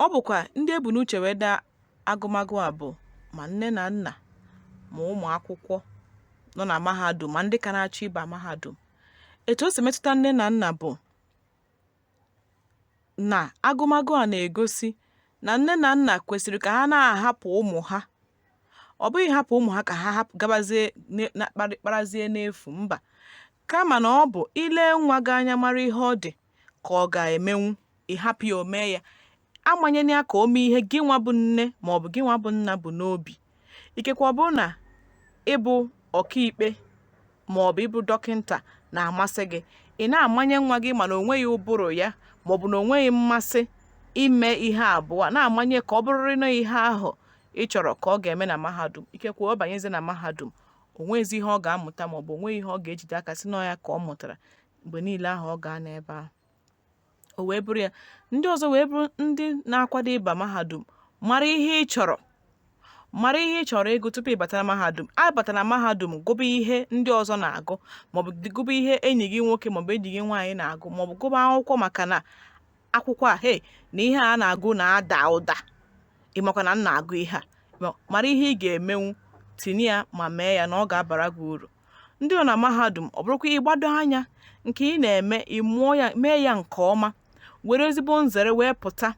ọ bụkwa ndị e bu n'uche wee dee agụmagụ a bụ ma nne na nna ma ụmụ akwụkwọ nọ na mahadum ma ndị ka na-achọ ịba mahadum etu o si metụta nne na nna bụ na agụmagụ a na-egosi na nne na nna kwesịrị ka ha na-ahapụ ụmụ ha ọ bụghị hapụ ụmụ ha ka ha hapụ gabazie kparazie n'efu mba kama na ọ bụ ile nwa gị anya mara ihe ọ dị ka ọ ga-emenwu ịhapụ ya o mee ya amanyena ya ka o mee ihe gị nwa bụ nne maọbụ gị nwa bụ nna bu n'obi Ikekwe ọ bụrụ na ịbụ ọkaikpe ma ọ bụ ịbụ dọkịta na-amasị gị, ị na-amanye nwa gị mana o nweghị ụbụrụ ya ma ọ bụ na o nweghị mmasị ime ihe abụọ a, na-amanye ka ọ bụrụrị na ihe ahụ ị chọrọ ka ọ ga-eme na mahadum. Ikekwe ọ banyezie na mahadum, o nweghịzi ihe ọ ga-amụta ma ọ bụ o nweghị ihe ọ ga-ejide aka sị na ọ ya ka ọ mụtara mgbe niile ahụ ọ ga-anọ ebe ahụ. o wee bụrụ ya ndị ọzọ wee bụrụ ndị na-akwado ịba mahadum mara ihe ị chọrọ mara ihe ị chọrọ ịgụ tupu ị bata na mahadum abatana mahadum gụba ihe ndị ọzọ na-agụ maọbụ gụba ihe enyi gị nwoke maọbụ enyi gị nwaanyị na-agụ maọbụ gụba akwụkwọ maka na akwụkwọ a he na ihe a na-agụ na-ada ụda ị makwa na m na-agụ ihe a mara ihe ị ga-emenwu tinye ya ma mee ya na ọ ga-abara gị uru ndị nọ na mahadum ọ bụrụkwa ịgbado anya nke ị na-eme ị mụọ ya mee ya nke ọma were ezigbo nzere wee pụta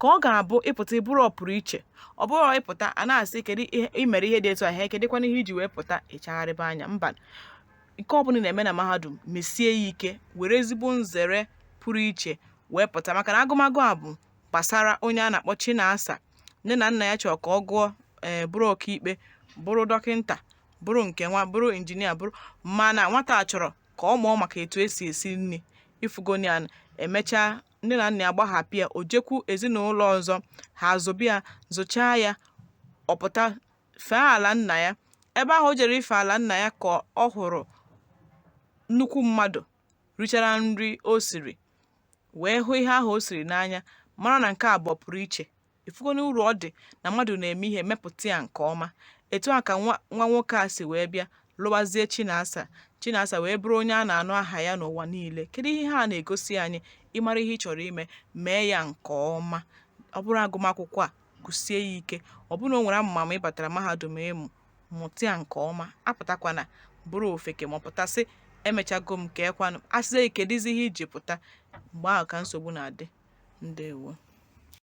ka ọ ga-abụ ị pụta ị bụrụ ọpụrụ iche ọ bụrọ ị pụta a na-asị kedu ihe ị mere ihe dị etu ahụ kedịkwana ihe i ji wee pụta ị chagharịba anya mba nke ọbụla na-eme na mahadum mesie ya ike were ezigbo nzere pụrụ iche wee pụta maka na agụmagụ a bụ gbasara onye a na-akpọ Chinasa nne na nna ya chọrọ ka ọ gụọ ee eh, bụrụ ọkaikpe bụrụ dọkịnta bụrụ nke nwa bụrụ injinia bụrụ mana nwata a chọrọ ka ọ mụọ maka etu e si esi nri ị fụgonị ya e mechaa nne na nna ya gbahapụ ya o jekwu ezinụlọ ọzọ ha azụba ya zụchaa ya ọ pụta fee ala nna ya ebe ahụ o jere ife ala nna ya ka ọ hụrụ nnukwu mmadụ richara nri o siri wee hụ ihe ahụ o siri n'anya mara na nke a bụ ọpụrụ iche ifugonu uru ọ dị na mmadụ na-eme ihe mepụta ya nke ọma etu a ka nwa nwoke a si wee bịa lụwazie Chinasa wee bụrụ onye a na-anụ aha ya n'ụwa niile kedu ihe ha na-egosi anyị ị mara ihe ị chọrọ ime mee ya nke ọma ọ bụrụ agụmakwụkwọ a gụsie ya ike ọ bụrụ na o nwere amụmamụ ị batara mahadum ịmụ mụta ya nke ọma apụtakwana bụrụ ofeke ma ọ pụta sị emechago m ka ekwanụ a sịzie kedụzi ihe i ji pụta mgbe ahụ ka nsogbu na-adị ndewo